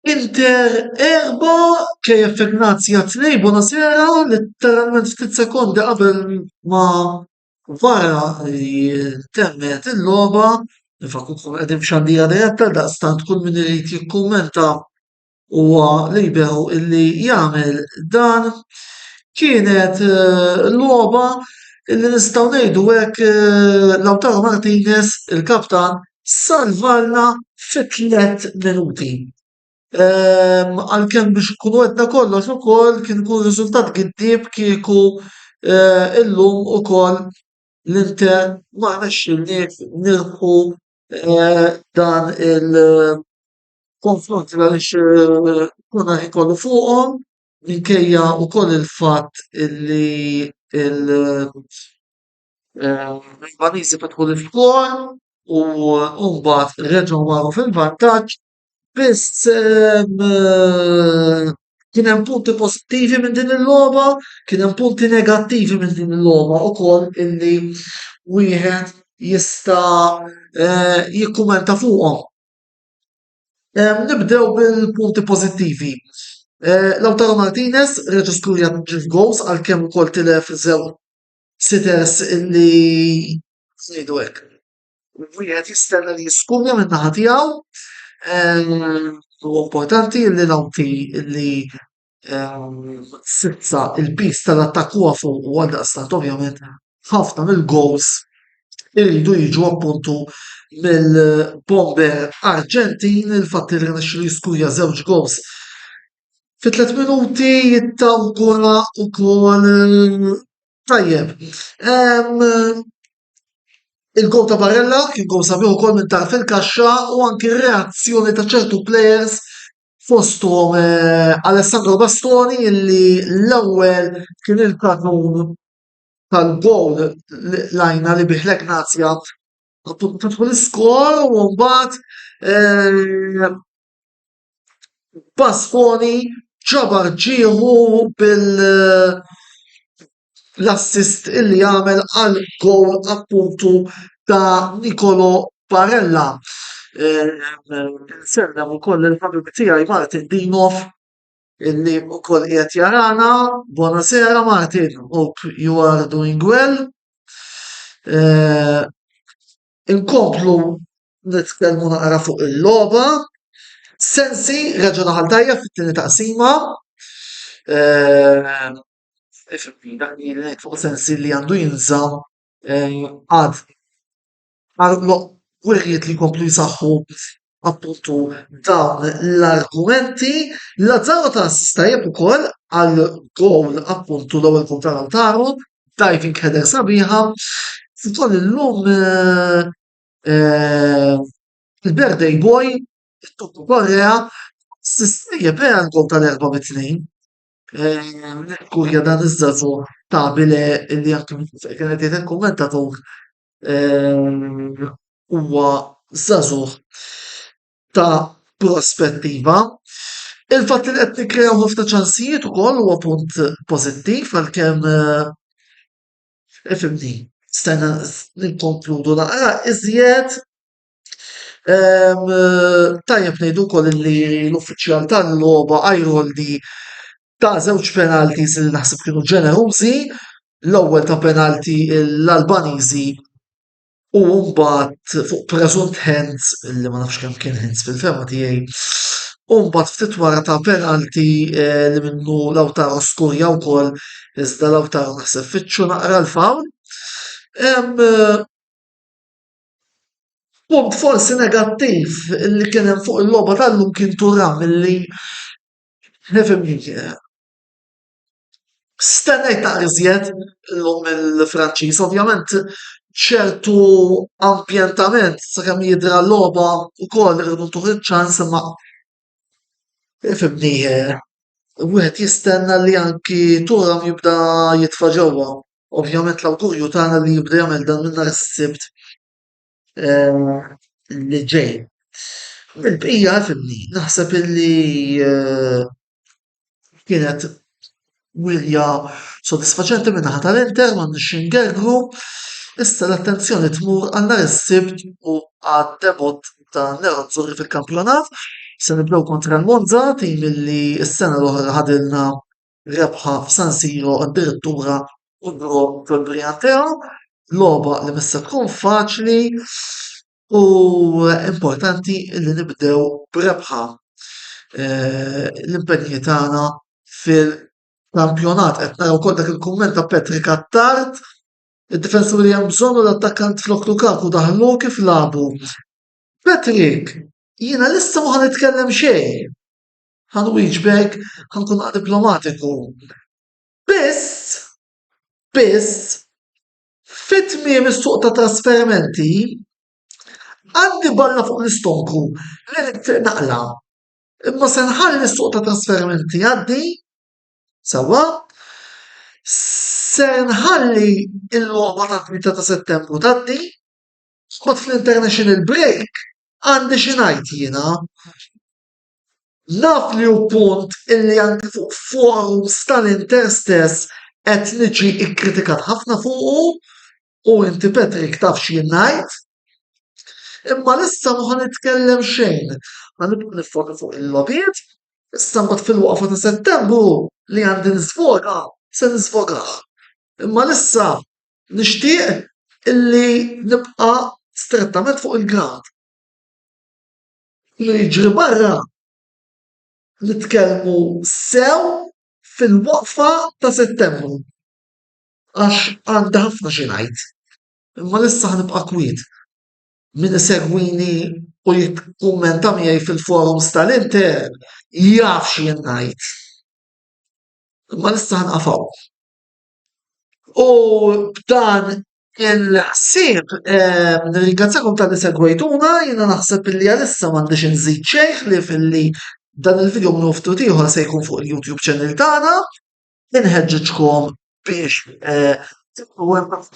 Inter erba kif Ignazia tnej Bonasera letteralment ftit sekondi qabel ma vara temmet il-logħba, infatti tkun qegħdin f'xandira diretta daqstant kull min irid jikkummenta huwa li jbiegħu illi jagħmel dan kienet logħba illi nistgħu ngħidu hekk Lautaro Martinez il-kaptan salvalna fi tliet minuti. Għalkemm biex inkunu għedna kollox ukoll kien ikun riżultat giddieb kieku illum ukoll l-Inter ma rnexxilniex nilħqu dan il- konfronti għaliex kuna qed ikollu fuqhom minkejja wkoll il-fatt li l-Albaniżi fetħu l-iskor u mbagħad reġgħu marru fil-vantaġġ biss kien hemm punti pożittivi minn din il-logħba, kien hemm punti negattivi minn din il-logħba wkoll illi wieħed jista' jikkumenta fuqhom. Nibdew bil-punti pożittivi. Eh, Lautaro Martinez reġa' skurja ġif goals għalkemm ukoll tilef żew sitters li ngħidu hekk. Wieħed jistenna li jiskurja minn naħa tiegħu. Eh, huwa importanti li nawti li S'issa il-piż tal-attakk huwa fuq u għaldaqstant ovvjament ħafna mill-gowls iridu jiġu appuntu mill-bomber Arġentin, il-fatt li rnexxielu jiskurja żewġ gowls fi tliet minuti jittawgura wkoll tajjeb. Il-gowl ta' Barella kien gowl sabiħ ukoll minn tarf il-kaxxa u anki r-reazzjoni ta' ċertu plejers fosthom Alessandro Bastoni illi l-ewwel kien il-katun tal-gowl l-għajna li bih l-Egnazia fetħu l-iskor u mbagħad eh, Basfoni ġabar ġieħu bil l-assist illi għamel għal gowl appuntu ta' Nicolo Barella. Nsellem u koll il-ħabib tijaj Martin Dinov illi u koll jgħet jarana. Buonasera Martin, hope you are doing well. Inkomplu nitkellmu naqra fuq il-loba. Sensi reġa daħal tajja fit-tini taqsima. fuq sensier li għandu jinżamm għal wirjiet li jkomplu jsaħħu appuntu dawn l-argumenti. Lazzaro ta' assist tajjeb ukoll għal gowl appuntu l-ewwel gowl ta' Lautaro, diving header sabiħa. Ukoll illum il-birthday boy Toko Correa assist tajjeb għal gowl tal-4 bi 2. Kukja dan iż-żagħżugħ ta' bile li għadu kien qed jgħid il-kummentatur huwa żagħżugħ ta' prospettiva. Il-fatt li qed nikkrew ħafna ċansijiet ukoll huwa punt pożittiv għalkemm ifhimni, stajna nikkonkludu naqra iżjed. Tajjeb ngħidu wkoll li l-uffiċjal tal-logħba Airoldi ta' żewġ penalties li naħseb kienu ġenerużi, l-ewwel ta' penalti l-Albaniżi u mbagħad fuq preżunt hands li ma nafx kemm kien hands fil-fehma tiegħi. U mbagħad ftit wara ta' penalti eh, li minnu Lautaro skurja wkoll iżda Lautaro naħseb fittxu naqra l-fawl. Eh, Punt forsi negattiv li kien hemm fuq il-logħba tal-lum kien Thuram li stennejt nara iżjed illum mill-Franċiż. Ovvjament ċertu ambjentament sakemm jidhirha l-logħba wkoll irridu ntuh iċ-ċans imma Ifhimni, wieħed jistenna li anki Thuram jibda jitfa' ġewwa. Ovvjament l-awgurju tagħna li jibda jagħmel dan minn nhar is-Sibt li ġej. Il-bqija ifhimni, naħseb illi kienet wirja sodisfaċenti min-naħa tal-Inter ma rridux ingergru. Issa l-attenzjoni tmur għal nhar is-Sibt u għad-debut ta' Nerazzurri fil-kampjonat. Se nibdew kontra l-Monza, tim li s-sena l-oħra ħadilna rebħa f'San Siro addirittura u draw fil-Briantea. Logħba li mhix se tkun faċli. u importanti li nibdew b'rebħa l-impenji tagħna fil-kampjonat. Qed nara wkoll dak il-kumment ta' Patrick Attard, id-difensur li hemm bżonnu l-attakkant flok Lukaku daħlu kif lagħbu. Patrick, jiena lissa ma ħanitkellem xejn. Ħan wieġbek, ħankun diplomatiku. Biss, biss, Fi tmiem is-suq ta' trasferimenti, għandi balla fuq l-istokku li nixtieq naqla'. Imma se nħalli s-suq ta' trasferimenti jgħaddi? Sewwa. Ser nħalli l-logħba tat-tlieta ta' Settembru tgħaddi? Imbagħad fl-international break għandi xi ngħid jiena? Naf li hu punt illi anki fuq forums tal-intern stess qed niġi kkritikat ħafna fuqu u inti Patrick taf x'jien ngħid. Imma issa ma ħa nitkellem xejn, ħa nibqa' niffoka fuq il-logħbiet, issa mbagħad fil-waqfa ta' Settembru li għandi nisfoga se nisfogah. Imma issa nixtieq illi nibqa' strettament fuq il-ground. Li jiġri barra nitkellmu sew fil-waqfa ta' Settembru għax għandi ħafna xi ngħid. Imma issa ħanibqa' kwiet. Min isegwini u jikkummenta miegħi fil-forums tal-Inter jaf x'jien ngħid. Imma issa ħanqaf hawn. U b'dan il-ħsieb nirringrazzjakom tal-li segwejtuna, jiena naħseb li għalissa m'għandix inżid xejn ħlief li dan il-video minn ftit ieħor se jkun fuq il-YouTube channel tagħna. Inħeġġiġkom biex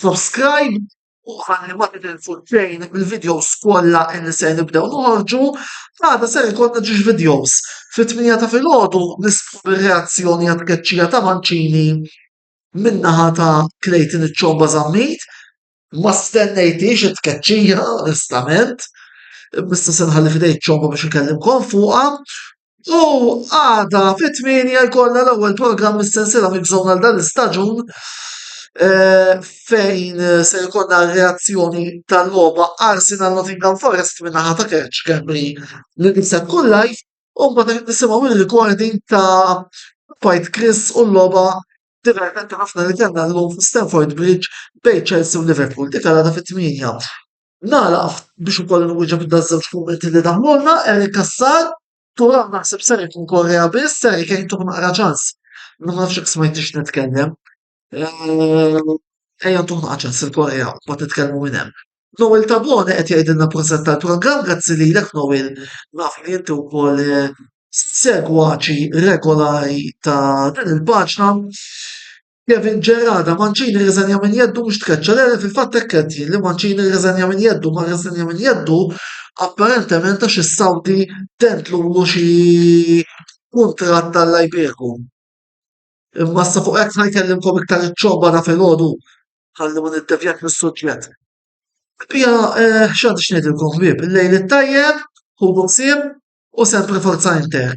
subscribe u ħalli ma titilfu xejn mill-videos kollha li se nibdew noħorġu, għada se jkollna ġiex videos. Fit-8 ta' filgħodu nisbħu bir-reazzjoni għat tkeċċija ta' Mancini min-naħa ta' Clayton iċ-ċomba Zammit. Ma stennejtix it-tkeċċija, onestament. Mista se nħalli fidejk ċomba biex ikellimkom fuqha. U għada fit-8 jkollna l-ewwel programm mis-sensiela Mix Zone għal dan l-istaġun eh, fejn eh, se jkollna reazzjoni tal-logħba Arsenal Nottingham Forest minn naħa ta' Kerċ Kemri li niseb kull live u mbagħad nisimgħu il-recording ta' Fight Chris u l-logħba divertenti ħafna li kellna llum fi Stamford Bridge bejn Chelsea u Liverpool dik għadha fit-8. Nagħlaq biex ukoll nwieġeb daż żewġ kummenti li daħlulna, Eric Cassar, Thuram naħseb ser ikun Correa biss, Harry Kane tuh naqra ċans. Ma nafx jekk smajtnix nitkellem. Ejja ntuh naqra ċans il Correa u mbagħad nitkellmu minn hemm. Noel Tabone qed jgħidilna proset tal-programm, grazzi lilek Noel, naf li inti wkoll segwaċi regolari ta' din il-paġna. Kevin Gerada, Mancini rriżenja minn jeddu mhux tkeċċa, le le fil-fatt hekk qed jien li Mancini rriżenja minn jeddu, ma rriżenja minn jeddu apparentement għax is-Sawdi tent lulu xi kuntratt tal-Lajbieku. Imma sa fuq hekk ħajkellimkom iktar iċ-ċomba ta' filgħodu ħalli ma niddevjak mis-suġġett. Bija eh, x'għad x'ngħidilkom ħbieb, il-lejl it-tajjeb, ħudu ħsieb u sempre forza inter.